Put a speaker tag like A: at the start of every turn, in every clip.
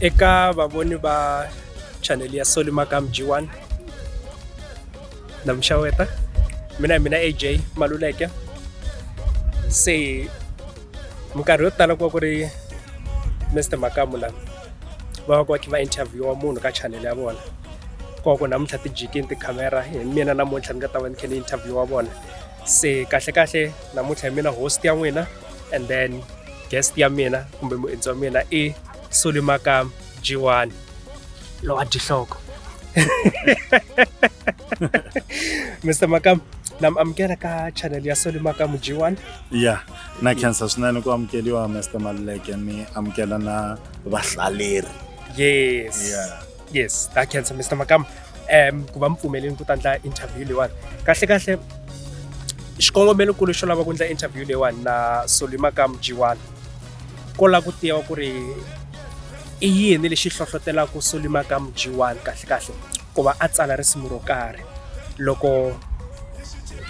A: eka vavoni va chanel ya soli makam g1 na muxaweta mina hi mina aj maluleke se minkarhi yo tala ku va ku ri mr makamu la va va ku va kha va interviewa munhu ka chanel ya vona ku va ku namuntlha ti jikini tikhamera hi mina namuntlha ni nga ta va ni kha ni interviewa vona se kahlekahle namuntlha hi mina host ya n'wina and then guest ya mina kumbe muendzi wa mina i solimaka jiwani lowa dihloko mr makam na mi amukela ka channel ya solimaka mujiwani ya
B: na khensa swinene ku amukeliwa mr maluleke ni amukela na vahlaleri yes yeah.
A: yes that cancer mr makam um ku va mi pfumeleni ku ta ndla interview leyiwani kahle kahle xikongomelokulu xo lava ku ndla interview leyiwani na soli makam jiwani ko lava ku tiva ku ri i yini lexi hlohlotelaka soli makam jiwani kahle kahle ku va a tsala risimu ro karhi loko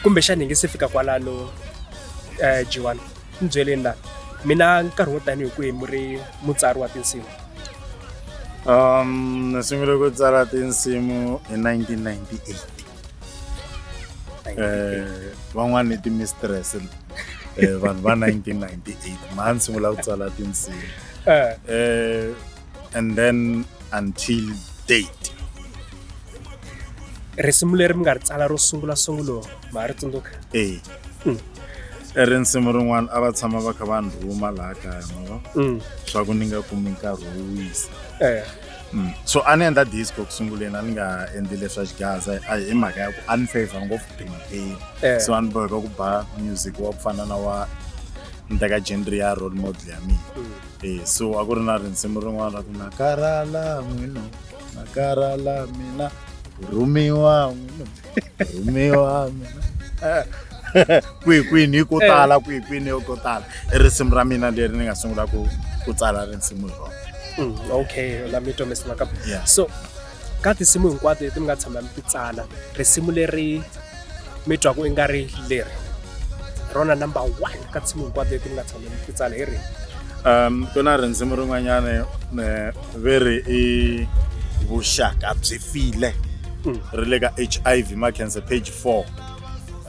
A: kumbexana hi nge se fika kwalano um jiwani ni byeleni la mina nkarhi wo tanihi kwihi mi ri mutsari wa tinsimu um
B: ni sungule ku tsala tinsimu hi 1998 eh van'wana ni timistress eh vanhu va 1998 ma ni sungula ku tsala tinsimu eh, eh and then until date
A: risimu leri mi nga ri tsala ro sungula sungulo ma ri tsundzuka eh i ri
B: nsimu rin'wana a va tshama va kha va ni rhuma laha kaya mava mm. swa ku ni nga kumi nkarhi wo wisa eh. mm. so a ni endla disco ku sunguleni a ni nga endli leswa xigaza hi mhaka ya ku a ni favor ngopfu pimpeni eh. so a ni boheka ku ba music wa ku fana na wa ni teka genre ya role model ya mina mm. eh, so a ku ri na rinsimu rin'wana ra ku na karhala n'wino na karhala mina rhumiwa n'wino rhumiwa kwihi kwini hi ko tala kwihi kwini hi ko tala i risimu ra mina leri ni nga sungula ku ku tsala risimu hi rona Mm, okay
A: la mi twa mr makapa Yeah. so ka tinsimu hinkwato leti mi nga tshama mi ti tsala risimu leri mi twaku i nga ri leri rona number one ka tinsimu hinkwato leti mi nga tshama ku tsala hi ri um ku na
B: rindzimi rin'wanyana ve ri i vuxaka byi file hmm. ri le ka h i v macancer page four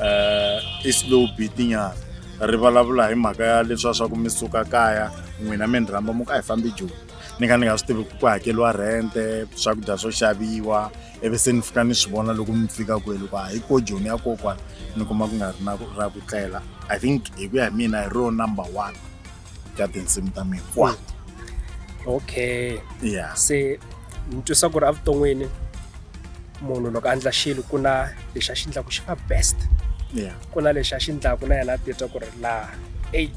B: um i slow beatinyana ri vulavula hi mhaka ya leswiwa swa ku mi suka kaya n'wina mi ni rhamba mu ka hi fambi joni ni kha ni nga swi tivi ku ku hakeriwa rente swakudya swo xaviwa ivi se ni fika ni swi vona loko mi fika kwele ku a hi ko joni ya kokwana ni kuma ku nga ri na ra ku tlela i think hi ku ya hi mina hi ro number one ka tinsimu ta mina kwat
A: okay ya se
B: ni twisa
A: ku ri evuton'wini munhu loko a ndla xilo ku na lexi a xi ndlaku xi va best ya ku na lexi a xi ndlaku na yena a titwa ku ri laha eyi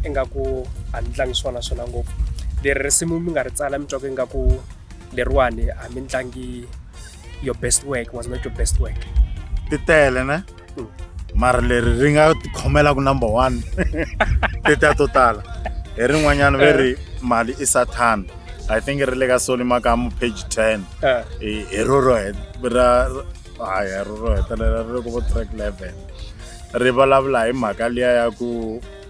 A: ingaku a ni tlangi swona swona ngopfu leri risimu mi nga ri tsala mi twa ku ingaku leriwani a mi tlangi your best work was not your best work ti tele
B: ne mm. mara leri ri nga tikhomelaku number one ti ta to tala hi rin'wanyana ve ri eh. mali i sathana i think ri le ka soli makamu page ten eh. hi roro ra haya roro hetelela ri le ku vo track level ri vulavula hi mhaka liya ya ku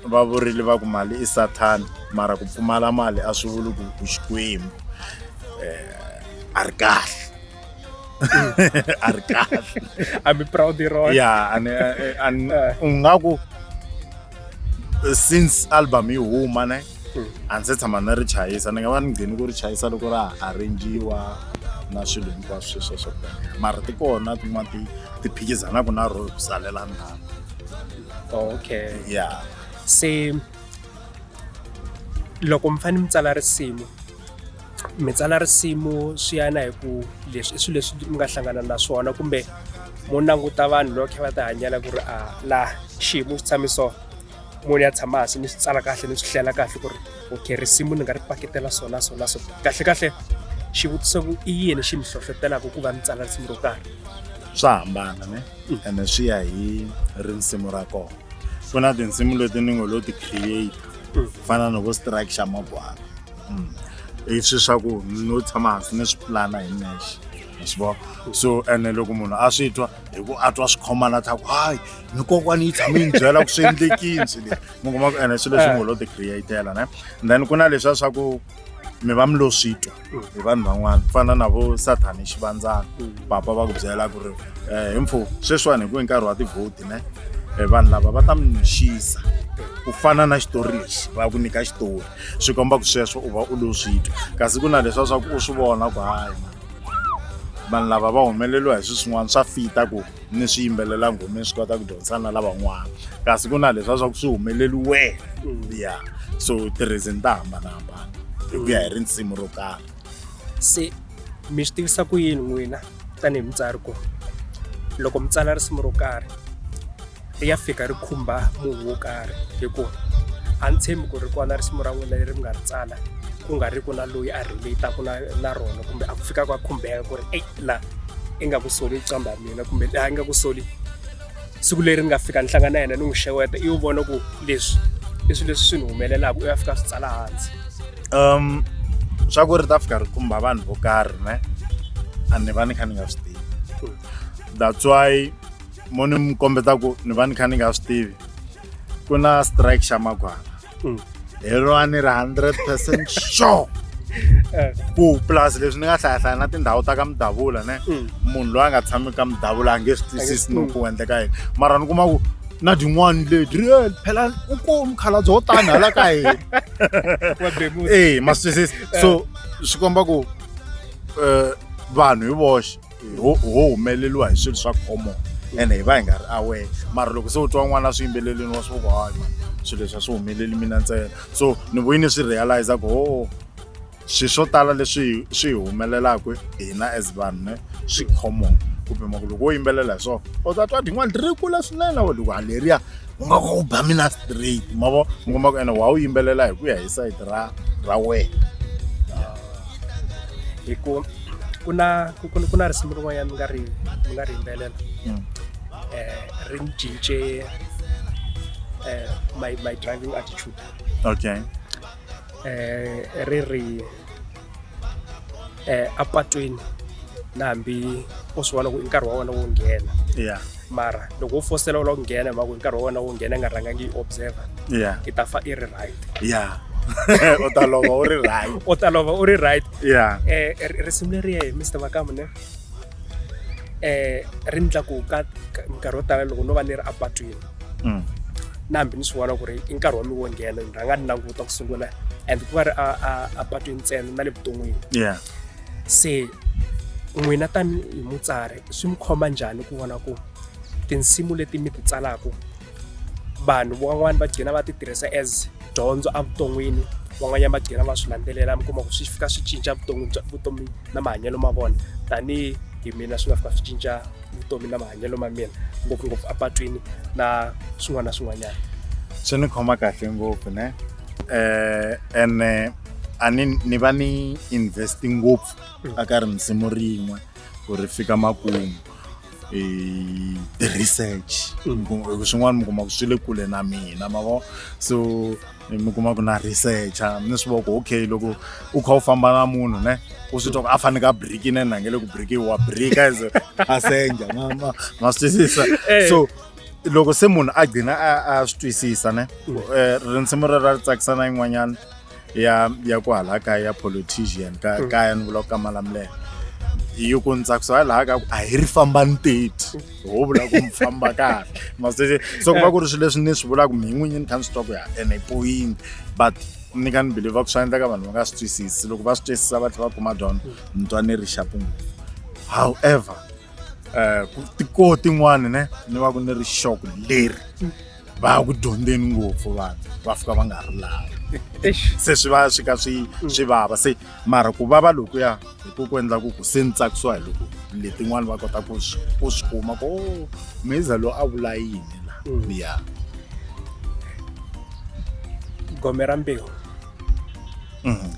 B: va vurile va ku mali i sathana mara ku pfumala mali a swi vuli ku u xikwembu eh, a ri kahle a ri
A: kahle i'm proud hi rona ya and and
B: ungaku since album yi huma ne hmm. a ndzi tshama ni ri chayisa ni nga va ni ngheni ku ri chayisa loko ra arrangiwa na swilo hinkwaswo sweswo swo mara ti kona tin'wana ti ti phikizanaka na ro ku salela ndhawu
A: okay yeah se loko mi fanele mi tsala risimu mi tsala risimu swi yana hi ku leswi i swilo leswi mi nga hlangana na swona kumbe mo languta vanhu loko khe va ti hanyela ku ri a laha xiyimo xi tshame so munhu ya tshama hansi ni swi tsala kahle ni swi hlela kahle ku ri okay risimu ni nga ri paketela so na so na so kahle kahle xivutiso ku i yini xi mi hlohlotelaka ku va ni tsala risimu ro karhi swa hambana
B: ne mm. ene swi ya hi risimu ra kona ku na tinsimu leti ni ngo lo ti create mm. fana no vo strike xa mabwana mm. i swi swa ku no tshama hansi ni swi pulana hi nexe swivo so ene loko munhu a swi twa hi ku a twa swi khomana ta ku hayi ni kokwani yi tshame yi ni byela ku swi endlekini swi leswi mi kuma ku ene swilo leswi eh. ngo lo ti createla ne and then ku na leswiya swa ku mi va mi lo swi twa mm. hi vanhu van'wana ku fana na vo sathani hi xivandzana mm. papa va ku byela ku ri um eh, hi mpfhu sweswiwani hi ku hi nkarhi wa tivhoti ne eh, vanhu lava va ta mi nixisa ku fana na xitori lexi va ku nyika xitori swi komba ku sweswo u va u lo swi twa kasi ku na leswiya swa ku u swi vona ku hayi vanhu lava va humeleriwa hi swi swin'wana swa fita ku ni swi yimbelela nghomeni swi kota ku dyondzisa na lavan'wana kasi ku na leswa swa ku swi humeleli wena mm. ya so ti-reason ta hambanahambana hi ku ya hi risimu ro karhi se
A: mi swi tivisa ku yini n'wina tanihi mutsari ku loko mi tsala risimu ro karhi ri ya fika ri khumba munhu wo karhi hikuva a ni tshembi ku ri kona risimu ra n'wina leri mi nga ri tsala ku nga ri ku na loyi a relate-aka na na rona kumbe a ku fika ku a khumbeka ku ri eyi laha i nga ku soli qamba ya mina kumbe laha i nga ku soli siku leri ni nga fika ni hlangana na yena ni n'wi xeweta i wu vona ku leswi i swilo leswi swi ni humelelaka u ya fika swi tsala hansi um
B: swa ku ri ta fika ri khumba vanhu vo karhi ne a ni va ni kha ni nga swi tivi that's why mo ni mi kombeta ku ni va ni kha ni nga swi tivi ku na strike xa magwana mm. hi rona ni ri hundred percent sure eh. ku plus leswi ni nga hlayahlaya na tindhawu ta ka mudavula ne mm. munhu loyi a nga tshami ka mudavula a nge swi twisisi no ku endleka yini mara ni kuma ku na tin'wani leti real phela u komi khalabye wo tani hala ka hina ee eh, ma swi twisisi so eh. swi komba ku um vanhu hi voxe ho ho humeleliwa hi swilo swa common ene hi va hi nga ri aware mara loko se u twa n'wana swi yimbelelini wa swi ku hayi man swilo leswi a swi humeleli mina ntsena so ni vuyi ni swi realize ku ho swilo swo tala leswi swi hi humelelaka hina as vanhu ne swi common kumbe mhaka loko wo yimbelela hi swona u ta twa tin'wana ti ri kula swinene wa loko haleriya u nga u ba mina straight ma vo mi komba ku ene wa wu yimbelela hi ku ya hi sayiti ra ra wena
A: hi ku ku na ku ku ku na risimu rin'wanyana ni nga ri ni nga ri yimbelela Mm. eh ri ni cince eh my my driving attitude okay
B: eh
A: ri ri eh apatwini na hambi u swi vona ku i nkarhi wa wena wo nghena yeah mara loko u fosela u lava ku nghena hi mhaka hi nkarhi wa wena wo nghena nga rhangangi yi observer yeah i ta fa i ri right yeah
B: u ta lova u ri right u ta lova u ri
A: right yeah eh risimu leri hi Mr Makamu ne eh ri ndla ku ka nkarhi wo tala loko no va ni ri apatwini mm. na hambi ni swi vona ku ri i nkarhi wa mi wo nghena ni rhanga ni languta ku sungula and ku va ri apatwini ntsena na le vuton'wini yeah se n'wina tanihi mutsari swi mi khoma njhani ku vona ku tinsimu leti mi ti tsalaka vanhu van'wani va gcina va ti tirhisa as dyondzo evuton'wini van'wanyana va gcina va swi landzelela mi kuma ku swi fika swi cinca vutomi bya vutomi na mahanyelo ma vona tanihi hi mina swi nga fika swi cinca vutomi na mahanyelo ma mina ngopfungopfu apatwini na swin'wana na swin'wanyana swi ni khoma
B: kahle ngopfu ne um ene a ni ni va ni invest ngopfu mm. a ka ri nsimu rin'we ku ri fika makumu e ti-research mm. swin'wana mi kuma ku swi le kule na mina ma vo so mi kuma ku na researcha ni swi voko okay loko u kha u famba na munhu ne u swi twa ku a faneke a briki ne na nge le ku briki wa brika as a senja ma ma ma swi twisisa eh. so loko se munhu a gcina a a swi twisisa ne mm. eh, rinsimu rero ri tsakisa na yin'wanyana ya ya ku hala kaya ya politician ka hmm. kaya ni vula ku ka malamulelo yi ku ni tsakisa hi laha ka ku a hi ri famba ni teti ho vula ku mi famba kahle masese so ku va ku ri swilo leswi ni swi vulaka mi n'winyi ni kha ni swi twa ku ya ene i point but ni ka ni believe ku swi endleka vanhu va nga swi twisisi loko va swi twisisa va tlhe va kuma dyondzo ni twa ni ri xapungu however um ku tikoo tin'wani ne ni va ku ni ri xoko leri va ya ku dyondzeni ngopfu vanhu va fika va nga ha ri laha se swi va swi ka swi mm. swi vava se mara ku vava lokuya hi ku ku endla ku ku se ni tsakisiwa hi loko letin'wani va kota ku swi ku swi kuma ku o oh, meza loyi a vula yini la mm. ya
A: gome ra mbewu um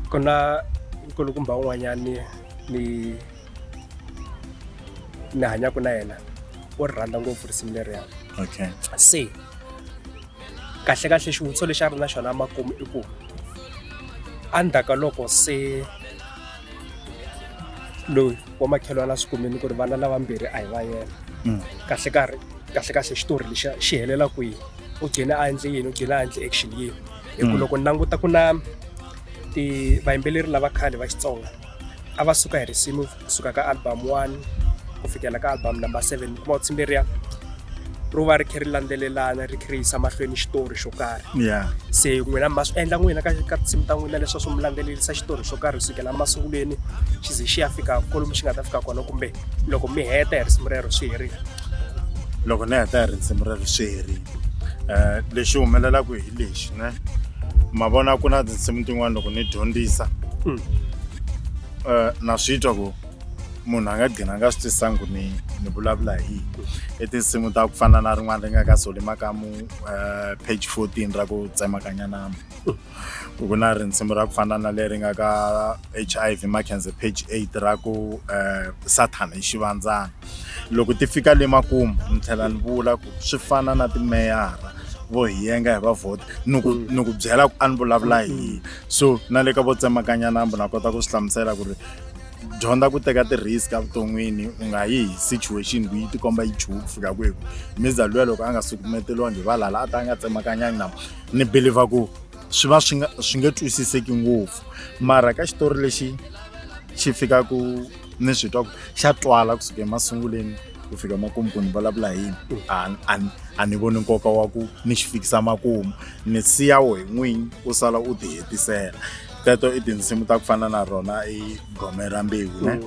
A: ku na nkulukumba un'wanyani ni ni hanyaka na yena u ri rhandza ngopfu risimu leriya okay se kahlekahle xivutiso lexi a ri na xona makumu i ku endzhaku ka loko se loyi wa makhelwana swi kumini ku ri vana lavambirhi a hi va yena Mm. kahle karhi kahle kahle xitori lexa xi helela kwihi u gcine a endle yini u gcine a endle action yini hi ku Mm. loko ni languta ku na ti vayimbeleri lava khale va xitsonga a va suka hi risimu kusuka ka album one ku fikela ka album number seven kuma u tsimberiya ro va ri khe ri landzelelana ri khe ri yisa mahlweni xitori xo karhi ya se n'wina ma swi endla n'wina ka ka tinsimu ta n'wina leswaku swi mi landzelerisa xitori xo karhi kusukela masungulweni xi ze xi ya fika kolomu xi nga ta fika kona kumbe loko mi heta hi risimu rero swi herile loko
B: ni heta hi risimu rero swi herile um lexi humelelaka hi lexi ne ma vona ku na tinsimu tin'wana loko ni dyondzisa um na swi twa ku munhu a nga gcina a nga swi twisanga ku ni ni vulavula hi yini i tinsimu ta ku fana na rin'wana ri nga ka soli makamu um page fourteen ra ku tsemakanya nama ku ku na risimu ra ku fana na leri nga ka H_I_V Makhensa page eight ra ku Sathana i xivandzana loko ti fika le makumu ni tlhela ni vula ku swi fana na timeyara vo hi yenga hi va vhota ni ku ni ku byela ku a ni vulavula hi yini so na le ka vo tsemakanya nambu na kota ku swi hlamusela ku ri dyondza ku teka ti-risk evuton'wini u nga yi hi situation ku yi tikomba yi chuha ku fika kwihi mizalwa loko a nga sukumeteliwangi hi valala a ta a nga tsemakanyangi na ni believer ku swi va swi nga swi nge twisiseki ngopfu mara ka xitori lexi xi fikaku ni swi twa ku xa twala kusuka emasunguleni ku fika makumu ku ni vulavula hi yini a ni voni nkoka wa ku ni xi fikisa makumu ni siya wo hi n'winyi u sala u ti hetisela teto i tinsimu ta ku fana na rona i gome ra mbewu ne mm.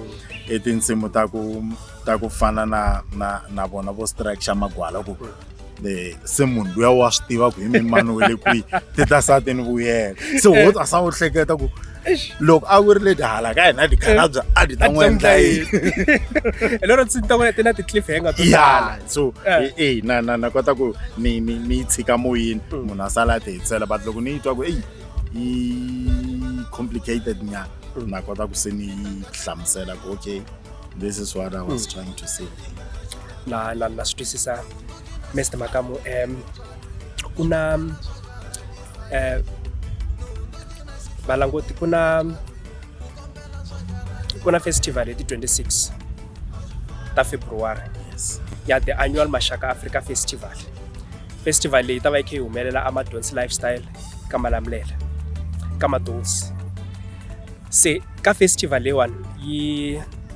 B: i tinsimu ta ku ta ku fana na na na vona vo strike xa magwala ku eh, se munhu luya wa swi tiva ku hi mini mani we le kwihi ti ta sa ti ni vuyela se wo a sa wu hleketa ku loko a ku ri leti hala ka hina tikhalabya a ti ta n'wi endla yini hi lero ndzi ta n'wi
A: ti na ti-cliff hanger to ya so Eh.
B: e e na na na kota ku ni ni ni yi tshika moyeni Mm. munhu a sala a ti hetisela but loko ni yi twa ku eyi yi complicated nyana Mm. na kota ku se ni yi hlamusela ku okay this is what i was trying to say na na
A: na swi twisisa Mr Makamu um ku na um valangoti ku na ku na festival hi ti 26 ta february ya the annual mashaka africa festival festival leyi ta va yi kha yi humelela amadonsi lifestyle ka malamulele ka madonsi se ka festival leyiwani yi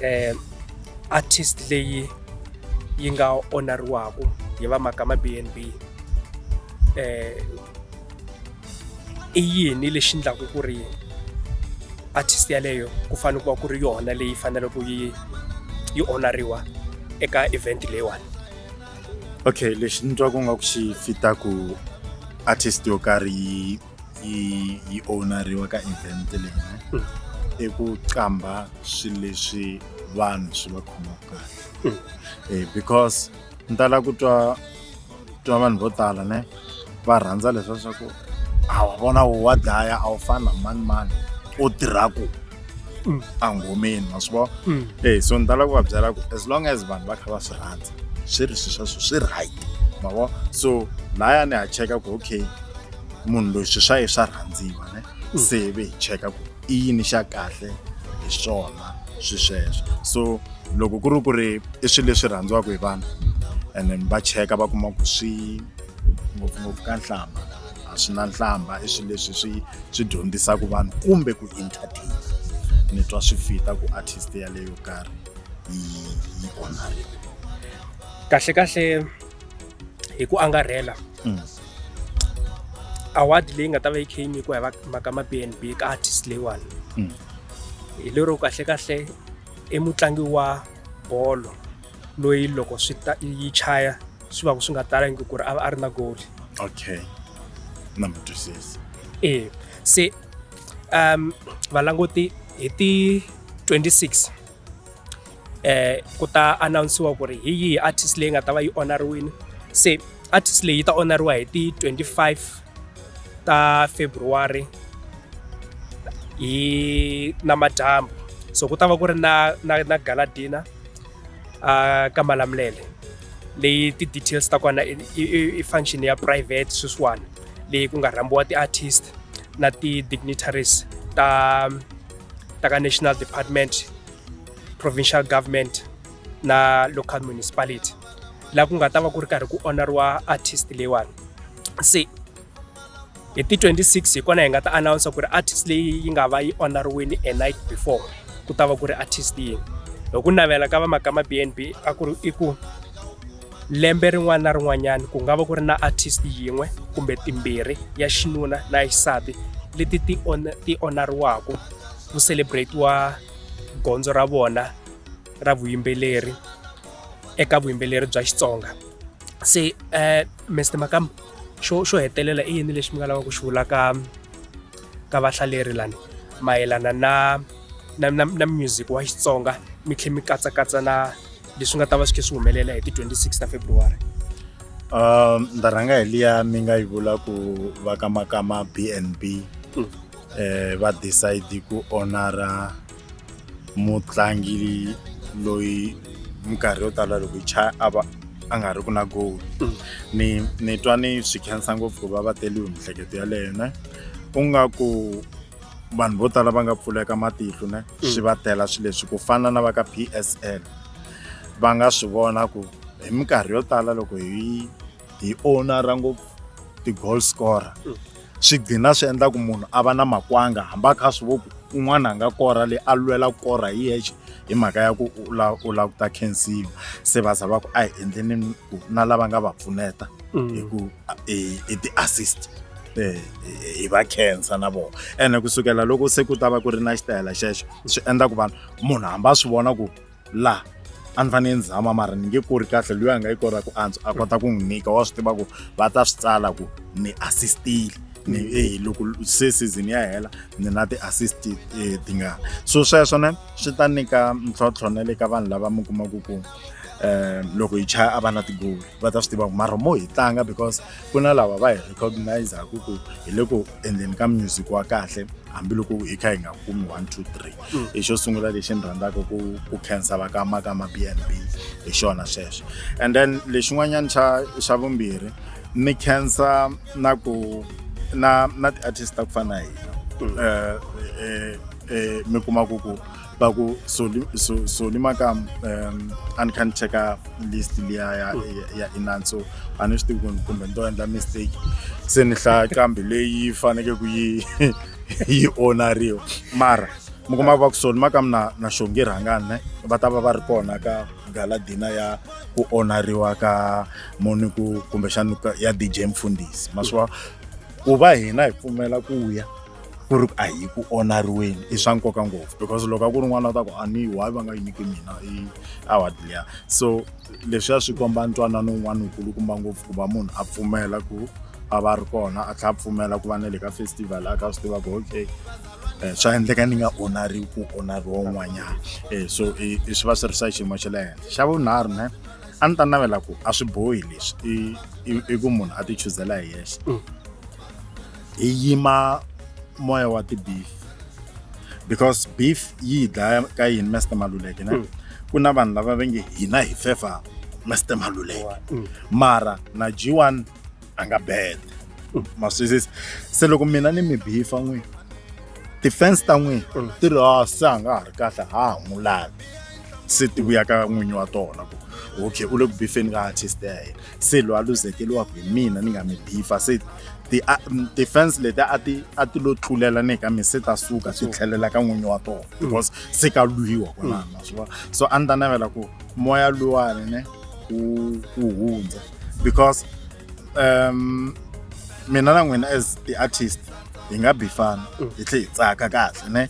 A: eh artist leyi yi nga onariwaku hi va makama BNB eh i yini lexi ndlaku ku ri artist yaleyo ku fane ku va ku ri yona leyi faneleke yi yi onariwa eka event leyiwani
B: okay lexi ni twaku nga ku xi fitaku artist yo karhi yi yi yi ownariwa ka event leyi hmm. i ku qambha swilo leswi vanhu swi va khomaka kahle hmm. eh, because ni tala ku twa twa vanhu vo tala ne va rhandza leswa swa ku a wa vona wo wa dlaya a wu fani na mani mani u tirha ku hmm. a nghomeni wa swi vona e so ni tala ku va byela ku as long as vanhu va kha va swi rhandza swi ri swi sweswo swi right ma vona so laya ni ha cheka ku okay munhu loyi swi swa ye swa rhandziwa ne mm. se hi ve hi cheka ku i yini xa kahle hi swona swi sweswo so loko ku ri ku ri i swilo leswi rhandziwaka hi vanhu and then va cheka va kuma ku swi ngopfungopfu ka nhlamba a swi na nhlamba i swilo leswi swi swi dyondzisaka vanhu kumbe ku entertain ni twa swi fita ku artist yaleyo karhi yi yi onhariwa kahle
A: kahle hi ku angarhela mm. award leyi nga ta va yi kha yi nyikiwa hi va mhaka ma BNB ka artist leyiwani mm. hi lero kahle kahle i mutlangi wa bolo loyi loko swi ta yi chaya swi va ku swi nga talangi ku ri a va a ri na goli okay
B: na mi twisisa e se
A: um valanguti hi ti 26 ku ta announce-iwa ku ri hi yihi artist leyi nga ta va yi onariwile se artist leyi ta onariwa hi ti twenty five ta February hi namadyambu so ku ta va ku ri na na na gala dinner a ka Malamulele leyi ti-details ta kona i function ya private sweswiwani leyi ku nga rhambiwa ti-artist. na ti-dignitaries ta ta ka national department provincial government na local municipality laha ku nga ta va ku ri karhi ku onariwa artist leyiwani se hi ti 26 hi kona hi nga ta announce ku ri artist leyi yi nga va yi onariwini a night before ku ta va ku ri artist yini hi ku navela ka vamakama b n b a ku ri i ku lembe rin'wana na rin'wanyana ku nga va ku ri na artist yin'we kumbe timbirhi ya xinuna na ya xisati leti ti on ti onariwaka ku celebrate-iwa gondzo ra vona ra vuyimbeleri eka vuyimbeleri bya Xitsonga se eh Mister Makamu xo xo hetelela i yini lexi mi nga lavaka ku xi vula ka ka vahlaleri lani mayelana na na na na music wa Xitsonga mi tlhela mi katsakatsa na. leswi nga ta va swi khe swi humelela hi ti 26 ta february
B: um ni ta rhanga hi liya mi nga yi vula ku va ka makama b and b Mm. eh va decide ku honora mutlangi loyi minkarhi yo tala loko yi cha a va a nga ri ku na goal Mm. ni ni twa ni swi khensa ngopfu ku va va teliwe mihleketo yaleyo ne u nga ku vanhu vo tala va nga pfuleka matihlo ne mm. swi va tela swi leswi ku fana na va ka PSL va nga swi vona ku hi minkarhi yo tala loko hi hi ownera ngopfu ti-goal scorer mm. swi gcina swi endla ku munhu a va na makwanga hambi a kha swi vo ku un'wana a nga kora leyi a lwela ku kora hi yexe hi mhaka ya ku u la u la ku ta khensiwa se va za va ku a hi endleni ku na lava nga va pfuneta mm. hi ku i ti assist hi va khensa na vona ene kusukela loko se ku ta va ku ri na xitayela xexo swi endla ku vanhu munhu hambi a swi vona ku laha a ni fanele ni zama mara ni nge kori kahle loyi a nga yi kora ku antswa a kota ku n'wi nyika wa swi tiva ku va ta swi tsala ku ni assist-ile ni eyi loko se season ya hela ni na ti-assist tingani so sweswo ne swi ta nyika ntlhontlho na le ka vanhu lava mi kumaku ku. um loko hi chaya a va na tigoli va ta swi tiva ku mara mo hi tlanga because ku na lava va hi recognizaku ku hi le ku endleni ka music wa kahle hambiloko hi kha hi nga kumi one two three mm. hi xo sungula lexi ni rhandzaka ku ku khensa va ka maka ma b n b hi xona xexo and then lexin'wanyana xa xa vumbirhi ni khensa na ku na na ti-artist ta ku fana na hina um mm. eh, eh, eh, mi kuma ku ku va ku soli so, soli makamu um a ni kha ni cheka list liya ya ya inan so a ni swi tivi ku kumbe ni to endla mistake se ni hlaya kambe leyi faneke ku yi yi onariwa mara mi kuma va ku soli makamu na na xongi rhangani ne va ta va va ri kona ka galadina ya ku onariwa ka moni ku kumbexani ya dj mfundhisi maswiwa ku va hina hi pfumela ku ya ku ri a hi ku onariweni i swa nkoka ngopfu because loko a ku ri n'wana u ta ku a ni why va nga yi nyiki mina i award liya so leswiya swi komba ntwanano wun'wana wukulukumba ngopfu ku va munhu a pfumela ku a va ri kona a tlhela a pfumela ku va na le ka festival a ka swi tiva ku okay um swa endleka ni nga onariwi ku onariwa un'wanyana um so i swi va swi ri swa xiyimo xa le henhla xa vunharhu ne a ni ta navela ku a swi bohi leswi i i ku munhu a ti chuzela hi yexe hi yima moya wa ti-beef because beef yi hi dlaya ka yini Mister Maluleke ne ku na vanhu lava va nge hina hi fefa Mister Maluleke mara na G1 a nga bad ma swi twisisa se loko mina ni mi bifa n'wi ti-fans ta n'wi ti ri "Ah, se a nga ha ri kahle ha ha n'wi lavi se ti vuya ka n'winyi wa tona ku okay u le ku bifeni ka artist ya hina se loyi a luzekeriwaka hi mina ni nga mi bifa se ti-fans leti a ti a ti lo tlulela ni ka mi se ta suka ti tlhelela ka n'winyi wa tona mm. because se ka lwiwa kwalano mm. swi vona so a ni ta navela ku moya luwani ne wu wu hundza because um mina na n'wina as ti-artist hi nga bifana mm. hi tlhe hi tsaka kahle ne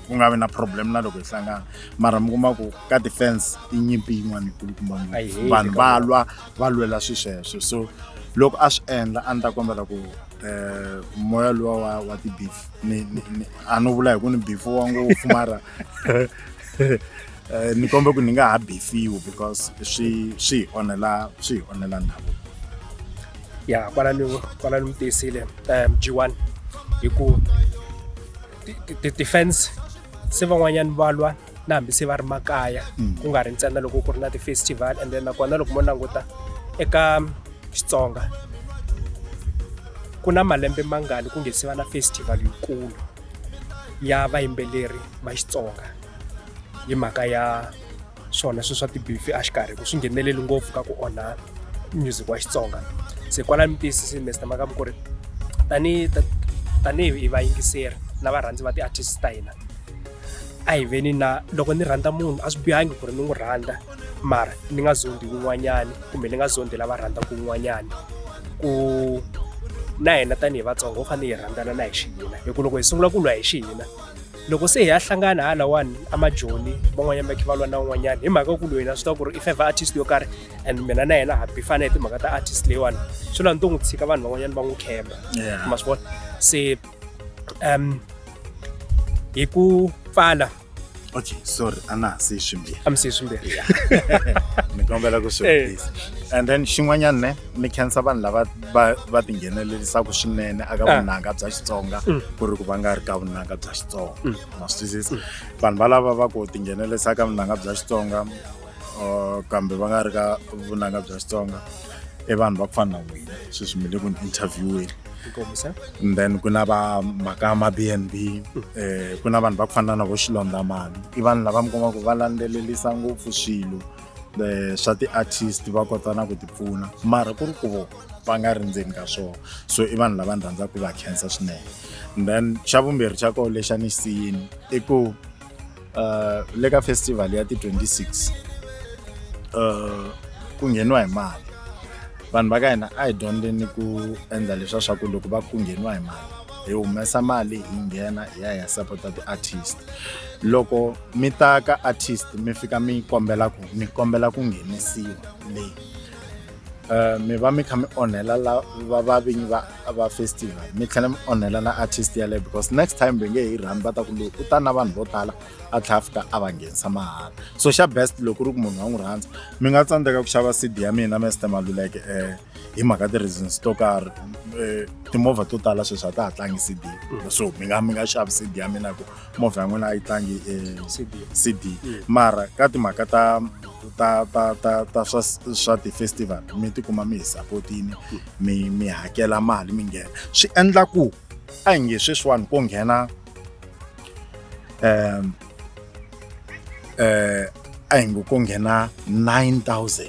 B: ku nga vi na problem na loko hi hlangana mara mi kuma ku ka defense i nyimpi yin'wana yikulukumba ngopfu vanhu va lwa va lwela swi sweswo so loko a swi endla a ni ta kombela ku um moya luwa wa wa ti-beef a no vula hi ku ni beef wa ngopfu mara um ni kombe ku ni nga ha beefiwi because swi swi hi onhela swi hi onhela ndhavuko
A: ya kwala ni kwala ni mi tiyisile um g one hi ku ti-fans se van'wanyana va lwa na hambi se va ri makaya mm. ku nga ri ntsena loko ku ri na ti-festival and then nakona loko mo languta eka xitsonga ku na malembe mangani ku nge se va na festival yikulu ya vayimbeleri va xitsonga hi mhaka ya swona sweswi swa tibifi a xikarhi ku swi ngheneleli ngopfu ka ku onha music wa xitsonga se kwalani mi tiyisisini mester makamu ku ri tanihi tanihi vayingiseri na varhandzi va ti-artist ta hina a hi veni na loko ni rhandza munhu a swi bihangi ku ri ni n'wi rhandza mara ni nga zondi wun'wanyani kumbe ni nga zondi lava rhandzaka wun'wanyani ku na hina tanihi vatsongo ho fanele hi rhandzana na hi xihina hi ku loko hi sungula ku lwa hi xihina loko se hi ya hlangana ha lawani amajoni van'wanyana va khe va lwa na un'wanyana hi mhaka ku lwena swi tiva ku ri i favour artist yo karhi and mina na yena ha bifana hi timhaka ta artist leyiwani swi lwa ni to n'wi tshika vanhu van'wanyana va n'wi khemba ma swi vona se um hi ku pfala okay
B: sorry ana se swimbirhi am se swimbirhi
A: ni
B: kombela ku swi eh. and then xin'wanyana ne ni khensa vanhu lava va va tinghenelerisaka swinene aka ah. vunanga bya xitsonga mm. ku ri ku va nga ri ka vunanga bya xitsonga mm. ma swi twisisa vanhu valava va ku tinghenelerisa ka vunanga bya xitsonga uh, kambe va nga ri ka vunanga bya xitsonga i vanhu va ku fana na wena sweswi mi le ku ni interviewini and then ku na va mhaka ma b n b um eh, ku na vanhu va ku fana na vo xilondamani i vanhu lava mi kuma ku va landzelelisa ngopfu swilo eh, swa ti-artist va kota na ku ti pfuna mara ku ri ku vo va nga ri ndzeni ka swona so i vanhu lava ni rhandzaka ku va khensa swinene then xa vumbirhi xa koho lexa ni xi siyini i ku um le ka festival ya ti-26 um ku ngheniwa hi mali vanhu va ka hina a hi dyondzeni ku endla leswa swa ku loko va ku ngheniwa hi mali hi humesa mali hi nghena hi ya hi ya sapota ti-artist loko mi ta ka artist mi fika mi kombela ku mi kombela ku nghenisiwa leyi um mi va mi kha mi onhela la va va vinyi va va festival mi tlhela mi onhela na artist yaleyo because next time va nge hi rhani va ta ku loyi u ta na vanhu vo tala a tlhela a fika a va nghenisa mahala so xa best loko ri ku munhu wa n'wi rhandza mi nga tsandzeka ku xava cd ya mina mester maluleke um hi mhaka ti-reasons to karhi um timovha to tala sweswi a ta ha tlangi cd so mi nga mi nga xavi cd ya mina hi ku movha ya n'wina a yi tlangi e CD. cd mara ka timhaka ta ta ta ta ta swa swa ti-festival mi tikuma mi hi sapotini mi mi hakela mali mi nghena swi endla ku a hi nge sweswiwani ko nghena um um a hi ngo ko nghena 9000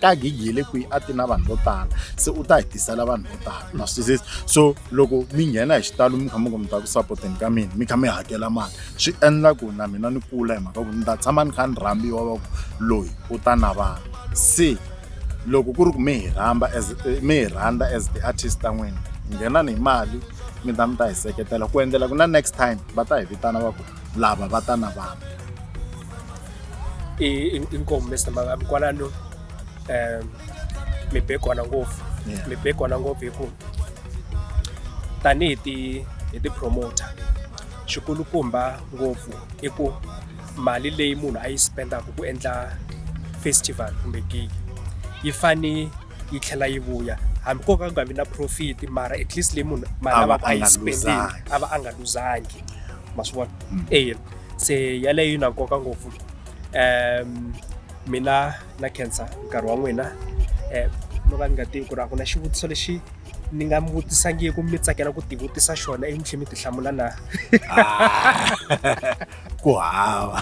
B: ka gig ye le kwihi a ti na vanhu vo tala se u ta hi tisela vanhu vo tala ma swi twisisa so loko mi nghena hi xitalo mi kha mi ku mi ta ku sapoteni ka mina mi kha mi hakela mali swi endla ku na mina ni kula hi mhaka ku ni ta tshama ni kha ni rhambiwa va ku loyi u ta na vanhu se loko ku ri ku mi hi rhamba as eh, mi hi rhandza as the artist ta n'wina nghenani hi mali mi ta mi ta hi seketela ku endlela ku na next time va ta hi vitana va ku lava va ta na vanhu i
A: i nkomu Mister Makabi kwalano um mi be kona ngopfu Yeah. mi be kona ngopfu hi ku tanihi ti hi ti-promoter xikulukumba ngopfu i ku mali leyi munhu a yi spendaka ku endla festival kumbe gig yi fane yi tlhela yi vuya hambi ko ka ku nga vi na profit mara at least leyi munhu mali A va lavaka a a yi nga spendile luzangi. a va a nga luzangi ma swi vona eya se yaleyo yi na nkoka ngopfu um mina na khensa nkarhi wa n'wina um no ka ni nga tivi ku ri a ku na xivutiso lexi ni nga mi vutisangiku mi tsakela ku tivutisa xona ivi mi tlhe mi ti hlamula na
B: ku hava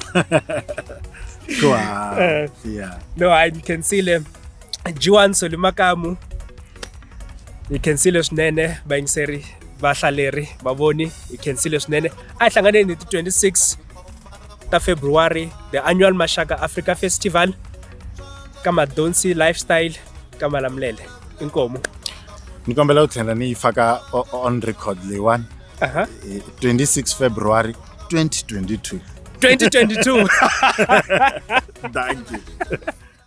B: ku hava Eh. ya no hayi ni
A: khensile G1 Solly Makamu hi khensile swinene vayingiseri vahlaleri vavoni hi khensile swinene a hi hlanganeni hi ti 26 ta february the annual maxaka africa festival ka madonsi lifestyle ka malamulele inkomu ni kombela
B: ku tlhela ni yi faka on record leyiwani uh -huh. 26 february 2022 2022 thank you